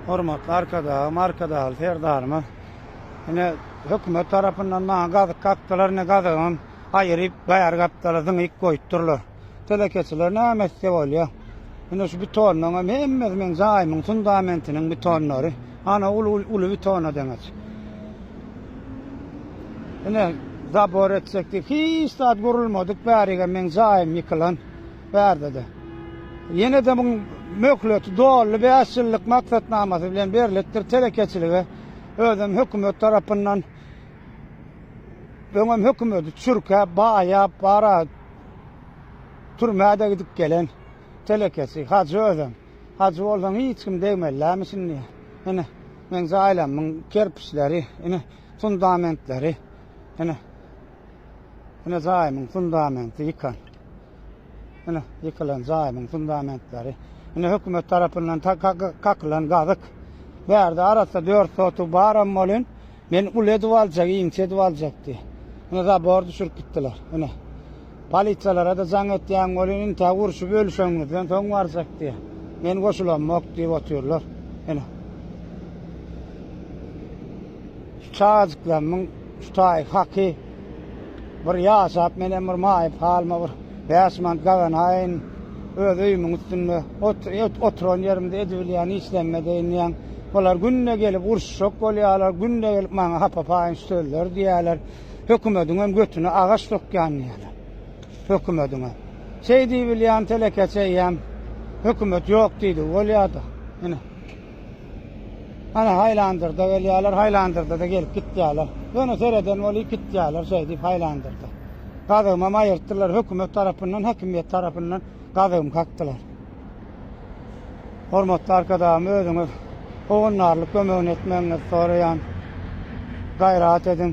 Hormatly Arkadagym, Arkadagly Serdarymyz ine hökümet tarapyndan maňa gazyk kakdylar, ine gazygym aýyryp, baýar gapdala zyňyp goýup durlar. Telekeçiler näme etse bolýa. Ine şu betonlaryň hem hemmesi meň jaýymyň fundamentiniň betonlary. Ana uly uly betona deňeç. Ine zabor etsek diýip hiç zat gurulmadyk bärigem meň jaýym ýykylan. barada-da. Ýene-de muň möhleti doly bäş ýyllyk maksatnamasy bilen berlipdir telekeçilige, özem hökümet tarapyndan. Öňem hökümeti çürkäp, baýap, bara türmä-de gidip gelen telekeçi, hajy özem. Hajy bolsaň hiç kim degmelilämi şindi? Ine, meň jaýlamyň kerpiçleri, ine, fundamentleri, ine, ine jaýymyň fundamenti ýykan. Ine, ýykylan jaýymyň fundamentleri. Ine, hökümet tarapyndan kakylan gazyk. Bärde arassa dört sotuw baram bolin, men uly edip aljak, inçe edip aljak diýip. Ine, zabor düşürip gitdiler. Ine, polisiýalara-da jaň etýän bolin, intä urşup ölüşeňizden soň barjak diýip. Men goşulamok diýip otyrlar. Ine. çagajyklarymyň çutaý haky bir ýaşap menem bir maýyp halyma bir bäş manat gazanaýyn, öz öýümiň üstünde oturan ýerimde edibilýän işlerime dynýan. Bular günde gelip uruşjak bolýarlar, günde gelip maňa hapa-paýynç sözler diýýärler. Hökümediňem götüne agaç sokýan diýýärler. Hökümediňe. Şeý diýibilýän telekeçi eýýäm hökümet ýok diýdigi bolýar-da. Ine. Ana, haýlandyrda gelýärler, haýlandyrda-da gelip gitýärler. Ýöne sereden bolup gitýärler şeýdip haýlandyrda. Gazygymam aýyrtdylar, hökümet tarapyndan, häkimiýet tarapyndan gazygymy kakdylar. Hormatly Arkadagym, özüňiz howandarlyk kömegini etmegiňizi soraýan. Gaýrat ediň.